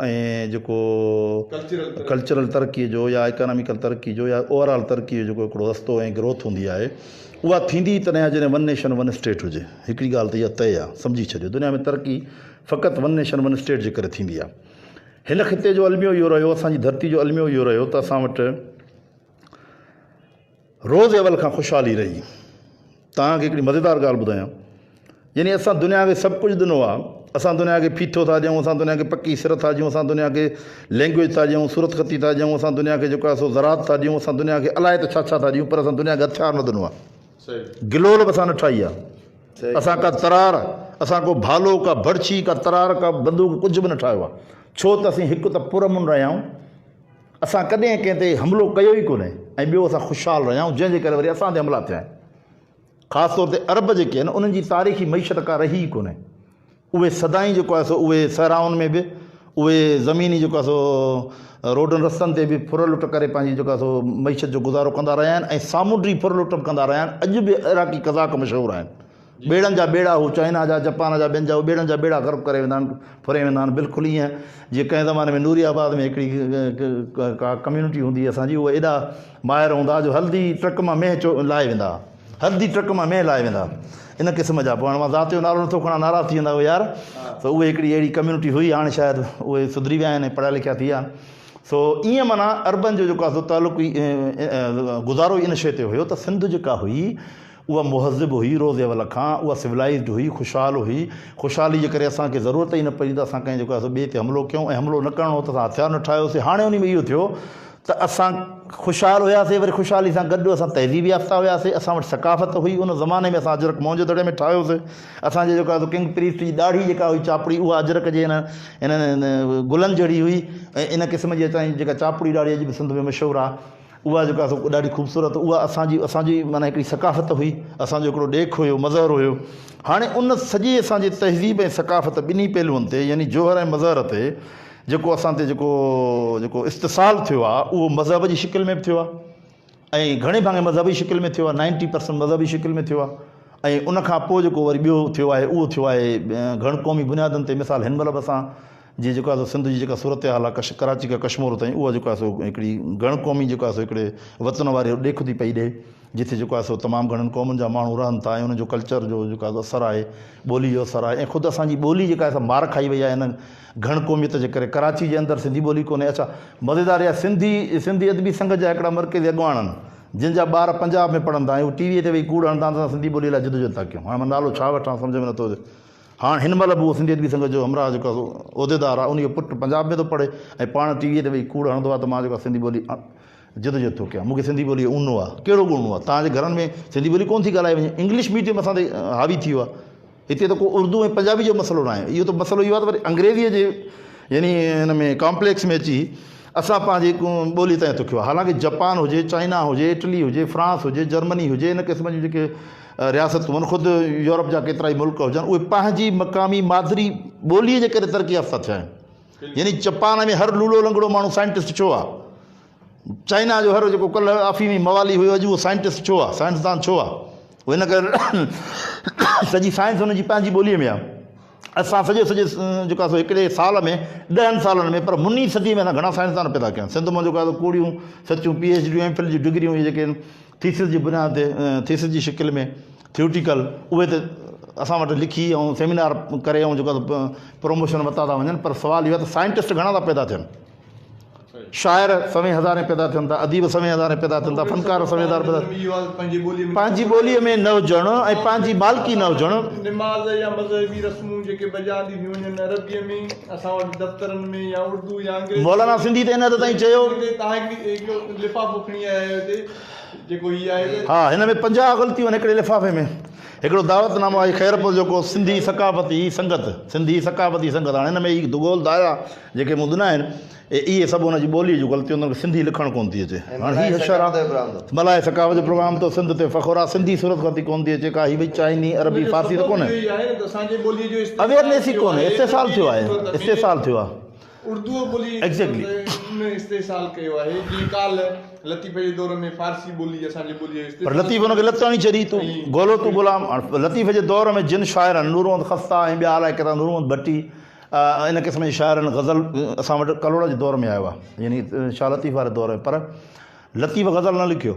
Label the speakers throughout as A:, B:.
A: ۽ جيڪو ڪلچرل ترقي جو يا ايڪاناميڪل ترقي جو يا اوور آل ترقي جو جيڪو هڪڙو رستو ۽ گروٿ هوندي آهي اها ٿيندي ئي تڏهن آهي جڏهن ون نيشن ون اسٽيٽ هجي هڪڙي ڳالهه ته اها طئي آهي سمجهي ڇڏيو دنيا ۾ ترقي فقط ون نيشن ون اسٽيٽ جي ڪري ٿيندي آهي هن خطي جو الميو اهو رهيو اسان جي ڌرتي جو الميو اهو رهيو ته اسان وٽ روز اول کان خوشحالي رهي. توهان کي هڪڙي مزيدار ڳالهه ٻڌايان. يعني اسان دنيا کي سڀ ڪجهه ڏنو آهي. اسان دنيا کي ڦيٿو ٿا ڏيون، اسان دنيا کي پڪي سر ٿا ڏيون، اسان دنيا کي لينگويج ٿا ڏيون، صورت خطي ٿا ڏيون، اسان دنيا کي جيڪو آهي سو زراعت ٿا ڏيون، اسان دنيا کي الائي ته ڇا ڇا ٿا ڏيون پر اسان دنيا کي هٿيار نه ڏنو آهي. گلول به اسان نه ٺاهي آهي. اسان ڪا ترار، اسان ڪو ڀالو، ڪا ڀڙڇي، ڪا ترار، ڪا بندوق ڪجهه به نه ٺاهيو آهي. ڇو ته اسين هڪ ته پرامن رهيا آهيون. اسان ڪڏهن ڪنهن تي حملو ڪيو ئي ڪونهي ۽ ٻيو اسان خوشحال رهيا آهيون جنهن جي ڪري وري اسان تي حملا ٿيا آهن. خاص طور تي عرب جيڪي آهن انهن جي تاريخي معيشت ڪا رهي ئي ڪونهي. اهي سدائين جيڪو آهي سو اهي صحرائن ۾ به اهي زميني جيڪو آهي سو روڊن رستن تي به ڦر لٽ ڪري پنهنجي جيڪو آهي سو معيشت جو گذارو ڪندا رهيا آهن ۽ سامونڊي ڦر لٽ به ڪندا رهيا آهن. اڄ به عراقي قزاق مشهور آهن. ٻيڙن جا ٻيڙا هو چائنا جا، جپان جا ٻين جا هو ٻيڙن جا ٻيڙا غرق ڪري ويندا آهن، ڦري ويندا آهن بلڪل ايئن جيئن ڪنهن زماني ۾ نوري آباد ۾ هڪڙي ڪا ڪميونٽي هوندي هئي اسان جي اهي ايڏا ماهر هوندا ها جو هلدي ٽرڪ مان مينهن چو لاهي ويندا ها هلدي ٽرڪ مان مينهن لاهي ويندا ها ان قسم جا پوء هاڻ مان ذات جو نالو نٿو کڻان ناراض ٿي ويندا اهي يار سو اهي هڪڙي اهڙي ڪميونٽي هئي هاڻ شايد اهي سڌري ويا آهن ۽ پڙهيا لکيا ٿي ويا آهن سو ايئن معنيٰ عربن جو جيڪو آهي سو تعلق گذارو ئي ان شيء تي هيو ته سنڌ جيڪا هئي اها مهذب هئي، روز اول کان اها سولائيزڊ هئي، خوشحال هئي، خوشحالي جي ڪري اسان کي ضرورت ئي نه پئي ته اسان ڪنهن جيڪو آهي سو ٻئي تي حملو ڪيون ۽ حملو نه ڪرڻو هو ته اسان هٿيار نه ٺاهيوسين، هاڻي انهي ۾ اهو ٿيو ته اسان خوشحال هياسين وري خوشحالي سان گڏ اسان تهذيب يافته هياسين، اسان وٽ ثقافت هئي، ان زماني ۾ اسان اجرڪ موهن جو دڙي ۾ ٺاهيوسين، اسان جي جيڪو آهي سو ڪنگ پريسٽ جي ڏاڙهي جيڪا هئي چاپڙي اها اجرڪ جي انهن گلن جهڙي هئي ۽ ان قسم جي اسان جي جيڪا چاپڙي ڏاڙهي اڄ به سنڌ ۾ مشهور آهي. اها جيڪا اسو ڏاڍي خوبصورت اها اسان جي اسان جي معنيٰ هڪڙي ثقافت هئي اسان جو هڪڙو ڏيک هيو مظهر هيو هاڻي ان سڄي اسان جي تهذيب ۽ ثقافت ٻنهي پهلوئن تي يعني جوهر ۽ مظهر تي جيڪو اسان تي جيڪو جيڪو استصال ٿيو آهي اهو مذهب جي شڪل ۾ به ٿيو آهي ۽ گهڻي ڀاڱي مذهبي شڪل ۾ ٿيو آهي نائنٽي پرسنٽ مذهبي شڪل ۾ ٿيو آهي ۽ ان کان پوء جيڪو وري ٻيو ٿيو آهي اهو ٿيو آهي گهڻ قومي بنيادن تي مثال هن مهل به اسان جي جيڪو آهي سو سنڌ جي جيڪا صورتحال آهي ڪش ڪراچي کان ڪشمور تائين اها جيڪو آهي سو هڪڙي گهڻ قومي جيڪو آهي سو هڪڙي وطن واري ڏيک ٿي پئي ڏئي جتي جيڪو آهي سو تمام گهڻن قومن جا ماڻهو رهن ٿا ۽ انهن جو ڪلچر جو جيڪو آهي اثر آهي ٻولي جو اثر آهي ۽ خود اسان جي ٻولي جيڪا آهي سا مار کائي وئي آهي هن گهڻ قوميت جي ڪري ڪراچي جي اندر سنڌي ٻولي ڪونهي اڇا مزيدار اها سنڌي سنڌي ادبي سنگت جا هڪڙا مرڪزي اڳواڻن جن جا ٻار پنجاب ۾ پڙهن ٿا ۽ هو ٽي وي تي ويهي ڪوڙ هڻن ٿا ته اسان سنڌي ٻولي لاء جدوجهد ٿا ڪيون هاڻي مان نالو ڇا وٺان سمجهه ۾ نٿو اچي هاڻ هن مهل به اهو سنڌي ادبي سنگت جو همراهه جيڪو عهديدار آهي، انهيء جو پٽ پنجاب ۾ ٿو پڙهي ۽ پاڻ ٽي ويء تي ويهي ڪوڙ هڻندو آهي ته مان جيڪو آهي سنڌي ٻولي جدوجهد ٿو ڪيان، مون کي سنڌي ٻوليء اونو آهي. ڪهڙو گوڻ اونو آهي؟ توهان جي گهرن ۾ سنڌي ٻولي ڪونه ٿي ڳالهائي وڃي. انگلش ميڊيم اسان تي حاوي ٿي ويو آهي. هتي ته ڪو اردو ۽ پنجابي جو مسئلو ناهي. اهو ته مسئلو اهو آهي ته وري انگريزيء جي يعني ان ۾ ڪامپليڪس ۾ اچي اسان پنهنجي ٻوليء تائين ٿو ڪيو آهي. حالانڪه جپان هجي، چائنا هجي، اٽلي هجي، فرانس هجي، جرمني هجي، ان قسم جون جيڪي رياست هونئن خود يورپ جا ڪيترائي ملڪ هجن اهي پنهنجي مقامي مادري ٻولي جي ڪري ترقي يافته ٿيا آهن يعني چپان ۾ هر لولو لنگڙو ماڻهو سائنٽسٽ ڇو آ چائنا جو هر جيڪو ڪل افيمي موالي هيو اڄ اهو سائنٽسٽ ڇو آ سائنسدان ڇو آ هو هن ڪري سڄي سائنس هن جي پنهنجي ٻولي ۾ آ اسان سڄي سڄي جيڪا سو هڪڙي سال ۾ ڏهن سالن ۾ پر مني صدي ۾ اسان گهڻا سائنسدان پيدا ڪيا آهن سنڌ مان جيڪو آهي ڪوڙيون سچون پي ايڇ ڊيون ايم فل جون ڊگريون اهي جيڪي آهن ٿيسز جي بنياد تي ٿيسز جي شڪل ۾ ٿيوٽيڪل اهي ته اسان وٽ لکي ۽ سيمينار ڪري ۽ جيڪو پروموشن وتا ٿا وڃن پر سوال اهو آهي ته سائنٽسٽ گهڻا ٿا پيدا ٿين شاعر سوين هزارين پيدا ٿين ٿا، اديب سوين هزارين پيدا ٿين ٿا، فنڪار سوين هزارين پيدا ٿين ٿا. پنهنجي ٻوليء ۾ نه هجڻ ۽ پنهنجي مالڪي نه هجڻ. نماز يا
B: مذهبي رسمون جيڪي بجا آنديون ٿيون وڃن عربيء ۾ اسان وٽ دفترن ۾ يا اردو يا انگريزيء ۾. مولانا سنڌي تي ان حد تائين
A: چيو.
B: ها هن ۾ پنجاهه
A: غلطيون آهن هڪڙي لفافي ۾ هڪڙو دعوت نامو آهي خيرپور جيڪو سنڌي ثقافتي سنگت سنڌي ثقافتي سنگت هاڻي هن ۾ هي گول دائره. جيڪي مدنا آهن، اهي سڀ ان جي ٻوليء جون غلطيون تن کي سنڌي لکڻ ڪونه ٿي اچي. هاڻ هي هشر آ. ملاح ثقافت جو پروگرام تو سنڌ تي فخر آ. سنڌي صورت خطي ڪونه ٿي اچي ڪا هي ڀئي چائني عربي فارسي ته ڪونه. اويرنيس ئي ڪونه استحصال ٿيو آهي استحصال ٿيو آ. اردوء ٻولي
B: ايگزيڪٽلي ان
A: استحصال
B: ڪيو آهي جيئن ڪالهه لطيف جي دور ۾ فارسي ٻولي اسان جي ٻوليء جو استحصال پر لطيف ان کي لت هڻي
A: ڇڏي تون گولو تون غلام هاڻ لطيف جي دور ۾ جن شاعرن نور محمد خسته ۽ ٻيا الائي ڪيترا نور محمد ڀٽي ان قسم جي شاعرن غزل اسان وٽ ڪلهوڙا جي دور ۾ آيو آهي يعني شاهه لطيف واري دور ۾ پر لطيف غزل نه لکيو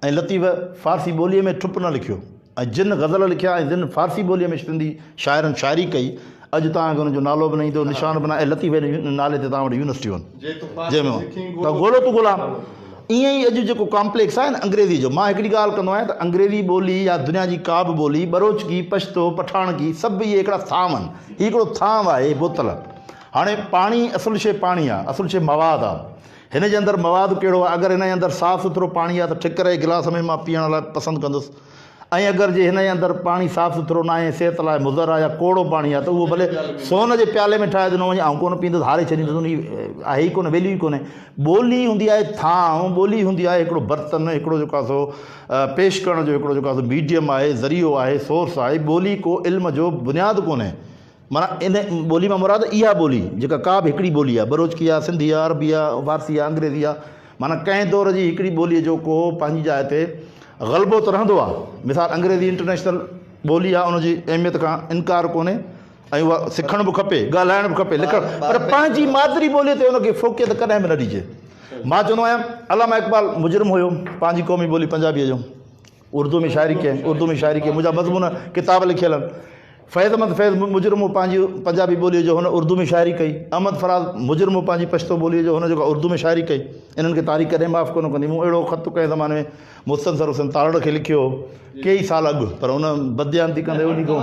A: ۽ لطيف فارسي ٻوليء ۾ ٺپ نه لکيو ۽ جن غزل لکيا ۽ جن فارسي ٻوليء ۾ سنڌي شاعرن شاعري ڪئي اڄ تان ان جو نالو به نه ايندو نشان به نه ۽ لطيف نالي تي تان وٽ يونيورسٽيون جي ۾ ته ڳولو تو غلام ائين ئي اڄ جيڪو ڪامپليڪس آهي نه انگريزي جو، مان هڪڙي ڳالهه ڪندو آهيان ته انگريزي ٻولي يا دنيا جي ڪا به ٻولي، ٻروچڪي، پشتو، پٺاڻڪي، سڀ اهي هڪڙا ٿانو آهن. هي هڪڙو ٿانو آهي، هي بوتل. هاڻي پاڻي، اصل شيء پاڻي آهي، اصل شيء مواد آهي. هن جي اندر مواد ڪهڙو آهي؟ اگر هن جي اندر صاف سٿرو پاڻي آهي ته ٺڪر جي گلاس ۾ مان پيئڻ لاء پسند ڪندس. ۽ اگر جي هن جي اندر پاڻي صاف سٿرو ناهي ۽ صحت لاء مضر آهي يا ڪوڙو پاڻي آهي ته اهو ڀلي سون جي پيالي ۾ ٺاهي ڏنو وڃي آئون ڪونه پيئندس هاري ڇڏيندس ان جي آهي ئي ڪونه ويليو ئي ڪونهي ٻولي هوندي آهي ٿانو ٻولي هوندي آهي هڪڙو برتن هڪڙو جيڪو آهي سو پيش ڪرڻ جو هڪڙو جيڪو آهي سو ميڊيم آهي ذريعو آهي سورس آهي ٻولي ڪو علم جو بنياد ڪونهي معنيٰ ان ٻولي مان مراد اها ٻولي جيڪا ڪا به هڪڙي ٻولي آهي، بروچڪي آهي، سنڌي آهي، عربي آهي، فارسي آهي، انگريزي آهي، معنيٰ ڪنهن دور جي هڪڙي ٻوليء جو ڪو پنهنجي جاء تي غلبو ته رهندو آهي. مثال انگريزي انٽرنيشنل ٻولي آهي ان جي اهميت کان انڪار ڪونهي ۽ اها سکڻ به کپي، ڳالهائڻ به کپي، لکڻ پر پنهنجي مادري ٻوليء تي ان کي فوقيت ڪڏهن به نه ڏجي. مان چوندو آهيان علامه اقبال مجرم هيو پنهنجي قومي ٻولي پنجابيء جو. اردو ۾ شاعري ڪئي. اردو ۾ شاعري ڪئي. منهنجا مضمون ڪتاب لکيل آهن. فيض احمد فيض مجرمو پنهنجي پنجابي ٻوليء جو هن اردو ۾ شاعري ڪئي. احمد فراز مجرمو پنهنجي پشتو ٻوليء جو هن جيڪا اردو ۾ شاعري ڪئي. انهن کي تاريخ ڪڏهن معاف ڪونه ڪندي. مون اهڙو خط ڪنهن زماني ۾ مستنصر حسين تارڙ کي لکيو هو. ڪيئي سال اڳ.
B: پر
A: هن بدديانتي
B: ڪندي
A: انهي کان.